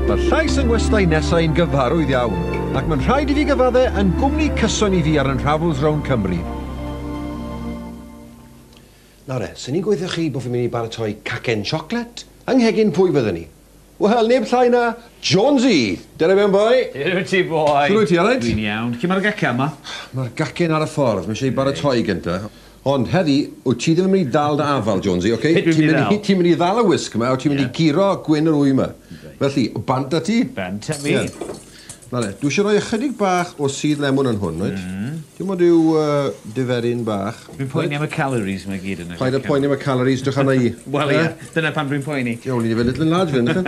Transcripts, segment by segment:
Mae'r llais yn westai nesau yn gyfarwydd iawn, ac mae'n rhaid i fi gyfadde yn gwmni cyson i fi ar yn Rhavels rownd Cymru. Nawr e, swn i'n gweithio chi bod fi'n mynd i baratoi cacen siocled, yng nghegin pwy fydden ni? Wel, neb llai na Jonesy! Dere mewn boi! Shwt wyt ti boi? Shwt wyt ti, alright? Dwi'n iawn. Lle mae'r gacen ma? Mae'r gacen ar y ffordd, mae eisiau ei baratoi gynta. Ond heddi, wyt ti ddim yn mynd i ddal dy afal, Jonesy, ok? Peth dwi'n mynd i ddal. Ti'n mynd i ddal y wisg 'ma a ti'n mynd i guro gwin yr ŵyn 'ma. Felly, bant â ti. Bant â mi. Na le, dwi eisiau rhoi ychydig bach o sudd lemwn yn hwn, wyt? Dim ond rhyw diferyn bach. Dwi'n poeni am y calories 'ma i gyd yna. Paid â poeni am y calories, drych arna i. Wel ie, dyna pam dwi'n poeni. Ie, o'n i 'di fod yn little enlarged fan hyn, nachan?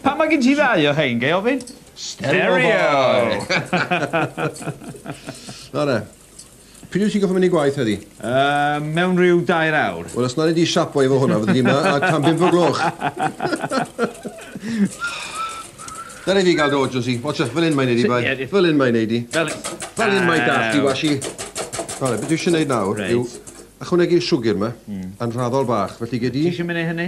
Pam mae gen ti ddau o rhein, ga i ofyn? Stereo boy! Na le. Pryd wyt ti'n gorfod mynd i gwaith heddi? Yy, mewn rhyw dair awr. Wel, os na ni di siapo efo hwnna, fyddi di yma a tan bimp o gloch. Dyna i fi gael dy ojo si. Watcha, fel un mae'n neud i bai. Fel un mae'n neud i. Fel Fel un mae dad di washi. Rale, beth dwi eisiau neud nawr yw ychwanegu'r siwgr yma, yn rhaddol bach, felly gei di... Ti eisiau mynd i hynny?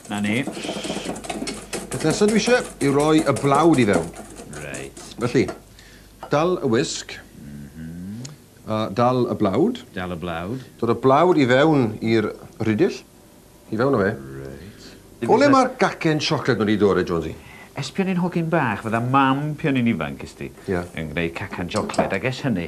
'Na ni. Peth nesa dwi isie yw roi y blawd i fewn. Reit. Felly, dal y wisg. A dal y blawd. Dal y blawd. Dod y blawd i fewn i'r rhidill. I fewn â fe. Reit. O le ma'r gacen siocled ma' 'di dod e, Jonesy? Ers pan o'n i'n hogyn bach, fydda Mam pan o'n i'n ifanc, ysdi? Ie. Yn gneud cacan siocled, ag ers hynny,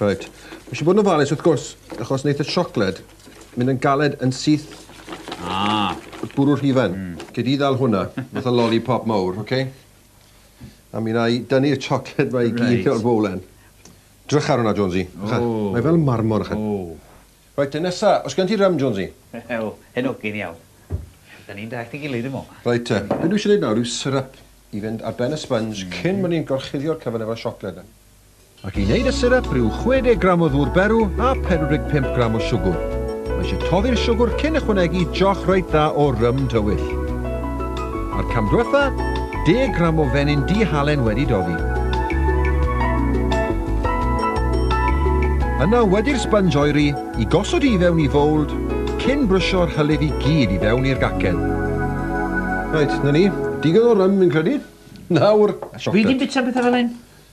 Reit. Mae eisiau bod yn ofalus wrth gwrs, achos wneith y siocled mynd yn galed yn syth Ah. y bwrw rhufen. Mm. Gei di ddal hwnna, fatha loli pop mawr, oce? Okay? A mi wna i dynnu'r siocled mae i gyd right. o'r fowlen. Drych ar hwnna, Jonesy. Drycha. Oh. Mae fel marmor, ychydig. Oh. Reit, te nesa. Os gen ti rym, Jonesy? Wel, hyn ogyn iawn. Da ni'n dall i gilydd, dim o. Reit, te. Be dwi eisiau gwneud nawr yw syrup i fynd ar ben y sponge mm. cyn bod ni'n gorchuddio'r cyfan efo'r siocled. Ac i wneud y syrap, rhyw 60 gram o ddŵr berw a 45 gram o siwgwr. Mae eisiau toddi'r siwgwr cyn ychwanegu joch reit dda o rym dywyll. A'r cam dwetha, 10 gram o fenyn du halen wedi doddi. Yna wedi'r sponge oeri i gosod i fewn i fowld cyn brwsio'r hylif i gyd i fewn i'r gacen. Reit, 'na ni. Digon o rym fi'n credu. Nawr, siocled. Fi 'di bita petha fel hyn.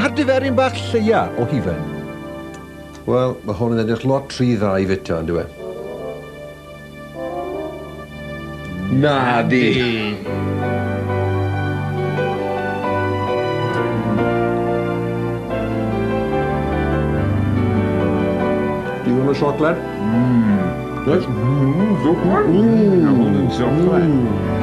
A'r diferyn bach lleia o hufen? Wel, mae hwn yn edrych lot rhy dda i fita, yn dyw e? Nadi! Digon o siocled? Mmm. Reit. Mmm, siocled. Mmm. Mae hwn yn siocled. Mmm.